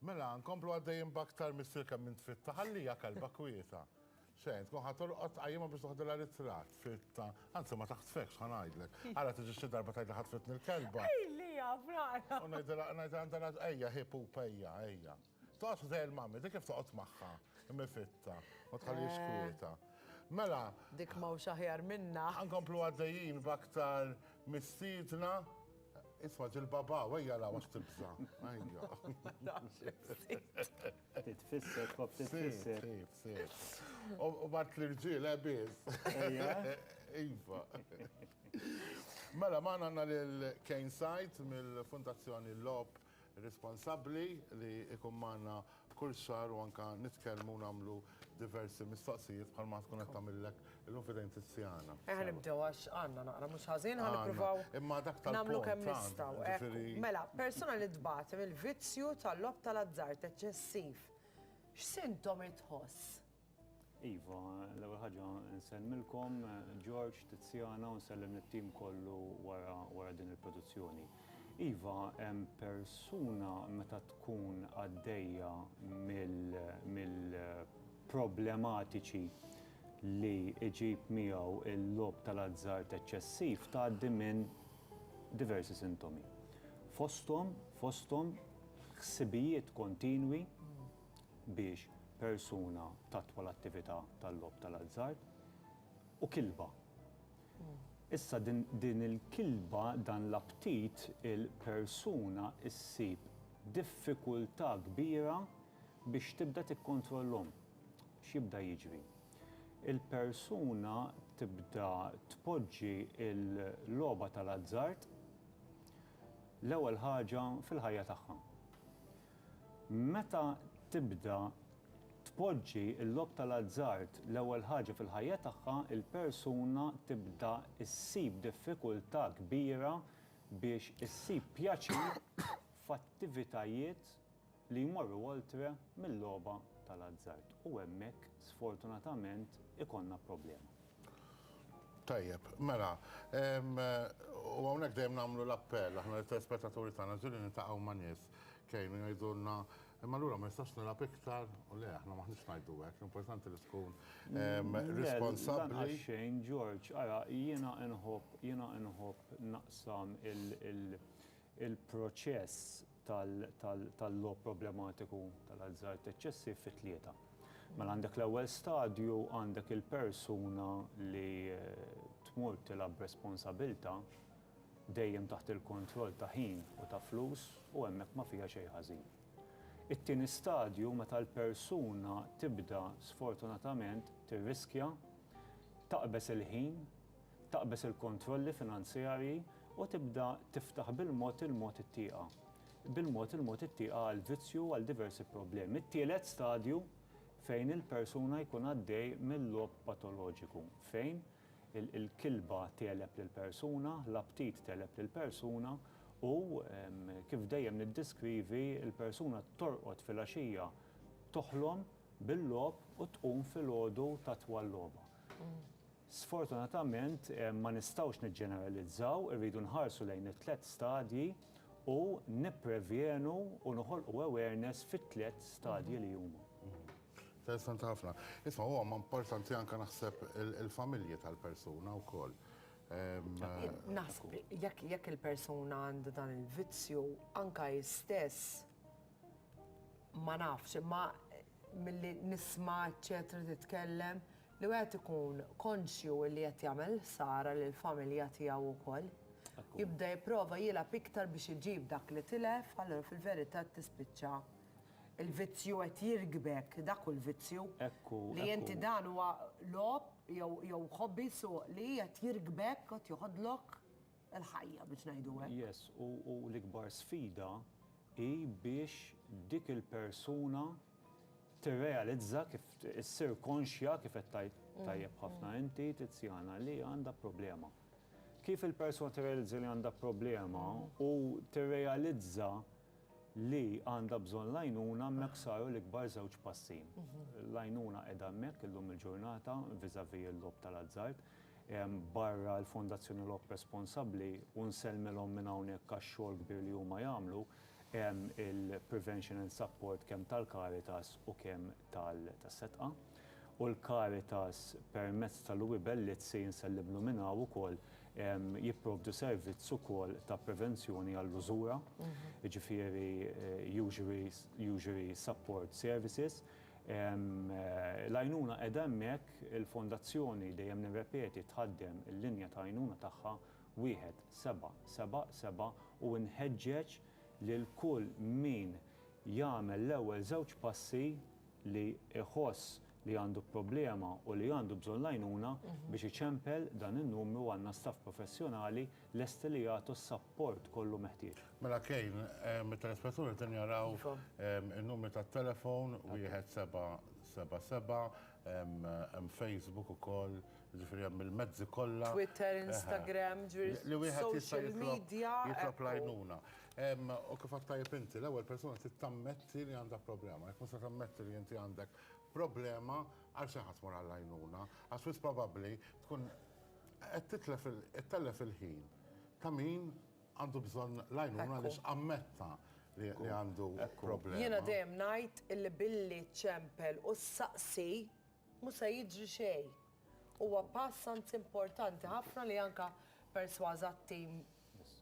Mela, nkomplu għaddejjin baktar missier kemm int fitta, ħallija kalba kwieta. Xejn, tkun ħadd orqod qajjimha biex toħdilha ritrat fitta. Anzi ma taħtfekx ħa ngħidlek. Ara tiġi xi darba tgħidli ħatfitni l-kelba. Ejlija, frara. U ngħidilha ngħidilha għandha ejja ħipu pejja, ejja. Toqgħod ħdejn il-mammi, dik kif toqgħod magħha, mifitta, ma tħallix eh. kwieta. Mela. Dik ma hux aħjar minna. Ankomplu għaddejjin b'aktar mistiedna. Isma ġil-baba, wejja la għax tibza. Titfisser, kop titfisser. U bat l-irġil, ebiz. Iva. Mela, ma għanna l-Kane Sajt mill-Fundazzjoni Lop responsabbli li jkun magħna kull xahar u anke nitkellmu u nagħmlu diversi mistoqsijiet bħalma tkun qed tagħmillek illum f'idejn Tiziana. Ejja nibdew għax għandna naqra mhux ħażin ħa nippruvaw nagħmlu kemm nistgħu. Ekku, mela, persuna li tbati mill-vizzju tal-logħob tal-azzard eċċessiv x'sintomi tħoss? Iva, l-ewwel ħaġa nsellmilkom George, Tiziana u nsellem it-tim kollu wara wara din il-produzzjoni. Iva, hemm persuna meta tkun għaddejja mill-problematiċi li iġib miegħu l-logħob tal-azzard eċċessiv tgħaddi minn diversi sintomi. Fosthom, fosthom ħsibijiet kontinwi, biex persuna tattwa l-attività tal-logħob tal-azzard u kilba. Issa din il-kilba, dan l-aptit, il-persuna ssib diffikultà kbira biex tibda tikkontrollhom. X'jibda jiġri? Il-persuna tibda tpoġġi l-logħba tal-azzard l-ewwel ħaġa fil-ħajja tagħha. Meta tibda tpoġġi l-logħob tal-azzard l-ewwel ħaġa fil-ħajja tagħha, il-persuna tibda ssib diffikultà kbira biex issib pjaċir f'attivitajiet li jmorru oltre mil-logħba tal-azzard. U hemmhekk, sfortunatament, ikollna problema. Tajjeb, mela, u hawnhekk dejjem nagħmlu l-appell aħna lit-telespettaturi tagħna, ġieli niltaqgħu ma' nies Kejn u jgħidulna, imma allura ma nistax nilgħab iktar u le aħna maħniex ngħidu hekk, importanti li tkun responsabbli. Xejn Ġorġ, ara jiena nħobb jiena nħobb naqsam il-proċess tal-logħob problematiku tal-azzard eċċessiv fi tlieta. Mela għandek l-ewwel stadju, għandek il-persuna li tmur tilgħab b'responsabilità dejjem taħt il-kontroll ta' ħin u ta' flus u hemmhekk ma fiha xejn ħażin. It-tieni stadju meta l-persuna tibda sfortunatament tirriskja, taqbeż il-ħin, taqbeż il-kontrolli finanzjarji u tibda tiftaħ bil-mod il-mod it-tieqa, bil-mod il-mod it-tieqa għal vizzju u għal diversi problemi. It-tielet stadju fejn il-persuna jkun għaddej mil-logħob patoloġiku fejn, il-kilba tegħleb lill-persuna, l-aptit tegħleb lill-persuna u kif dejjem niddeskrivi l-persuna torqod filgħaxija toħlom bil-logħob u tqum filgħodu tatwa l-logħba. Sfortunatament ma nistgħux niġġeneralizzaw, irridu nħarsu lejn it-tliet stadji u nipprevjenu u noħolqu awareness fit-tliet stadji li huma. Interessanti ħafna. Isma, huwa ma importanti anke naħseb il-familji tal-persuna wkoll. Naħseb jekk il-persuna għandu dan il-vizzju anka jistess ma nafx, imma milli nisma' eċċetera titkellem li wieħed ikun konxju li qed jagħmel ħsara lill-familja tiegħu wkoll. Jibda jipprova jilgħab iktar biex iġib dak li tilef, allura fil-verità tispiċċa Il-vizzju qed jirkbek, dak hu l-vizzju. Ekku, Li ekku. inti dan huwa logħob jew jew hobby suq li qed jirkbek qed joħodlok il-ħajja biex ngħidu hekk. Yes, u u l-ikbar sfida hi biex dik il-persuna tirrealizza kif issir konxja kif qed tgħid tajjeb ħafna inti Tiziana li għandha problema. Kif il-persuna tirrealizza li għandha problema u tirrealizza li għandha bżonn l-għajnuna hemmhekk saru l-ikbar żewġ passi. L-għajnuna qiegħda hemmhekk illum il-ġurnata viżavi l-logħob tal-azzard. Barra l-Fondazzjoni Logħob Responsabbli u nsellmilhom minn hawnhekk għax-xogħol kbir li huma jagħmlu, hemm il-Prevention and Support kemm tal-Caritas u kemm tas-Setqa. U l-Caritas permezz tal-UE Bellizzi, nsellimlu minn hawn ukoll, jipprovdu servizz ukoll ta' prevenzjoni għall-użura, jiġifieri eh, usury support services. L-għajnuna qiegħda hemmhekk il-fondazzjoni dejjem nirrepeti tħaddem il-linja ta' għajnuna tagħha wieħed seba' seba' seba' u nħeġġeġ lil kull min jagħmel l-ewwel żewġ passi li jħoss li għandu problema u li għandu bżonn l-għajnuna biex iċempel dan in-numru għandna staff professjonali lesti li jagħtu s-sapport kollu meħtieġ. Mela Kejn, mit-telespetturi qegħdin jaraw in-numri tat-telefon wieħed seba' seba' seba', hemm Facebook ukoll, jiġifieri hemm il-mezzi kollha. Twitter, Instagram, ġifieri social media. Li wieħed jista' jitlob jitlob l-għajnuna. U kif għedt tajjeb inti, l-ewwel persuna trid tammetti li għandha problema. Jekk mhux se tammetti li inti għandek problema għal xi ħadd tmur għall-għajnuna, għax wis probabbli tkun qed titlef ittellef il-ħin ta' min għandu bżonn l-għajnuna li x'ammetta li għandu problema. Jiena dejjem ngħid illi billi ċempel u ssaqsi mhux se jiġri xejn. Huwa pass anzi importanti ħafna li anke persważa t-tim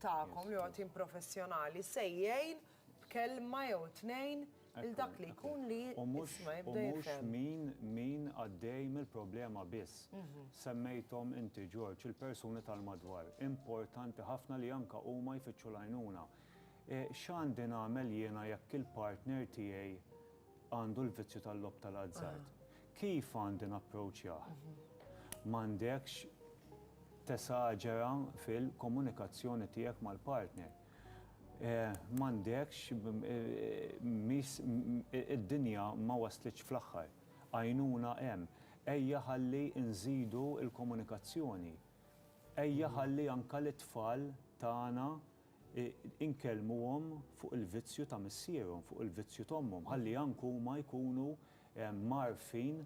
tagħkom li huwa tim professjonali se jgħin b'kelma jew tnejn lil dak li jkun li jisma' jibda jifhem. U mhux min għaddej mill-problema biss. Semmejthom inti Ġorġ, il-persuni tal-madwar. Importanti ħafna li anke huma jfittxu l-għajnuna. X'għandi nagħmel jiena jekk il-partner tiegħi għandu l-vizzju tal-logħob tal-azzard? Kif għandi napproċjah? M'għandekx tesaġera fil-komunikazzjoni tiegħek mal-partner. M'għandekx, mhix, id-dinja ma waslitx fl-aħħar. Għajnuna hemm. Ejja ħalli nżidu l-komunikazzjoni. Ejja ħalli anke lit-tfal tagħna inkellmuhom fuq il-vizzju ta' missierhom, fuq il-vizzju t'ommhom, ħalli anke huma jkunu mgħarrfin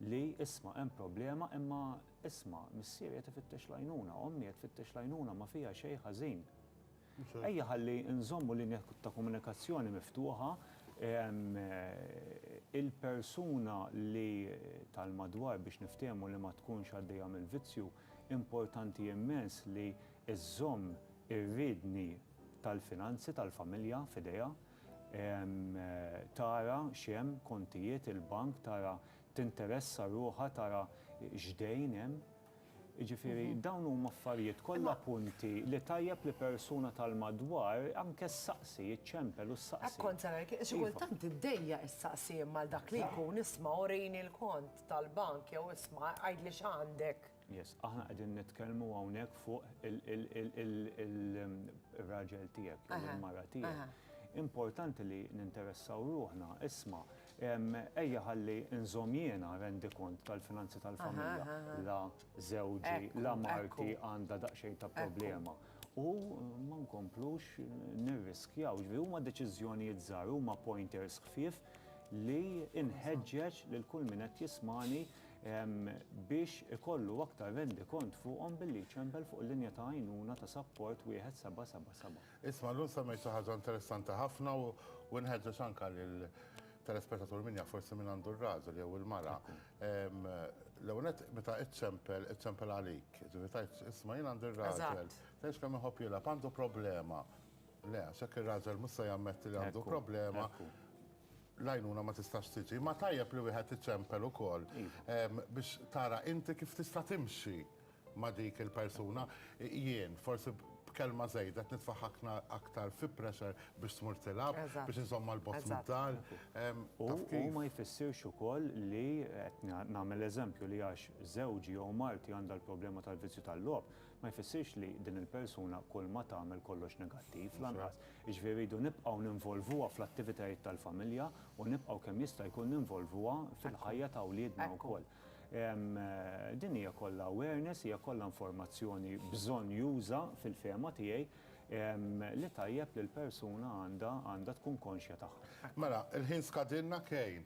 li isma' hemm problema imma isma' missieri qed ifittex l-għajnuna, ommi qed tfittex l-għajnuna ma fiha xejn ħażin. Ejja ħalli nżommu linja ta' komunikazzjoni miftuħa, il-persuna li tal-madwar biex niftehmu li ma tkunx għaddejja mill-vizzju, importanti immens li iżżomm ir-riedni tal-finanzi tal-familja f'idejha, tara x'hemm, kontijiet il-bank, tara tinteressa ruħha tara x'dejn hemm. Jiġifieri dawn huma affarijiet kollha punti li tajjeb li persuna tal-madwar anke ssaqsi, iċċempel u ssaqsi. Hekk kont se ngħid, xi kultant iddejjaq issaqsi imma għal dak li jkun isma' urini l-kont tal-bank jew isma' għidli x'għandek. Yes, aħna qegħdin nitkellmu hawnhekk fuq il-raġel tiegħek jew il-mara tiegħek importanti li ninteressaw ruħna, isma, ejja ħalli nżom jiena rendi kont tal-finanzi tal-familja, la zewġi, la marti għanda daqxejn ta' problema. U ma nkomplux nirriskjaw, ġvi huma deċiżjonijiet żgħar, huma pointers ħfief li inħeġġeġ lil kull min qed jismani biex ikollu aktar rendikont fuqhom billi jċempel fuq il-linja ta' għajnuna ta' sapport 1777. Isma' llum semmejt xi ħaġa interessanti ħafna u nħeġġeġ anke lill-telespettatur min jaf forsi min għandu r-raġel jew il-mara. L-ewwel nett meta iċċempel, iċċempel għalik. Jiġifieri tgħidx isma' jien għandi r-raġel, tgħidx kemm iħobb jilgħab, għandu problema. Le, għax hekk ir-raġel mhux se jammetti li għandu problema. l-għajnuna ma tistax tiġi, imma tajjeb li wieħed iċempel ukoll biex tara inti kif tista' timxi ma' dik il-persuna. Jien, forsi b'kelma żejda qed nitfa' ħakna aktar fi pressure biex tmur tilgħab, biex inżommha 'l bogħod mid-dar. U ma jfissirx ukoll li, qed nagħmel eżempju, li għax żewġi jew marti għandha l-problema tal-vizzju tal-logħob, ma jfissirx li din il-persuna kulma tagħmel kollox negattiv, lanqas. Jiġifieri rridu nibqgħu ninvolvuha fl-attivitajiet tal-familja u nibqgħu kemm jista' jkun ninvolvuha fil-ħajja ta' wliedna wkoll. Din hija kollha awareness, hija kollha informazzjoni bżonnjuża fil-fehma tiegħi li tajjeb li l-persuna għandha tkun konxja tagħha. Mela, il-ħin skadilna Kane.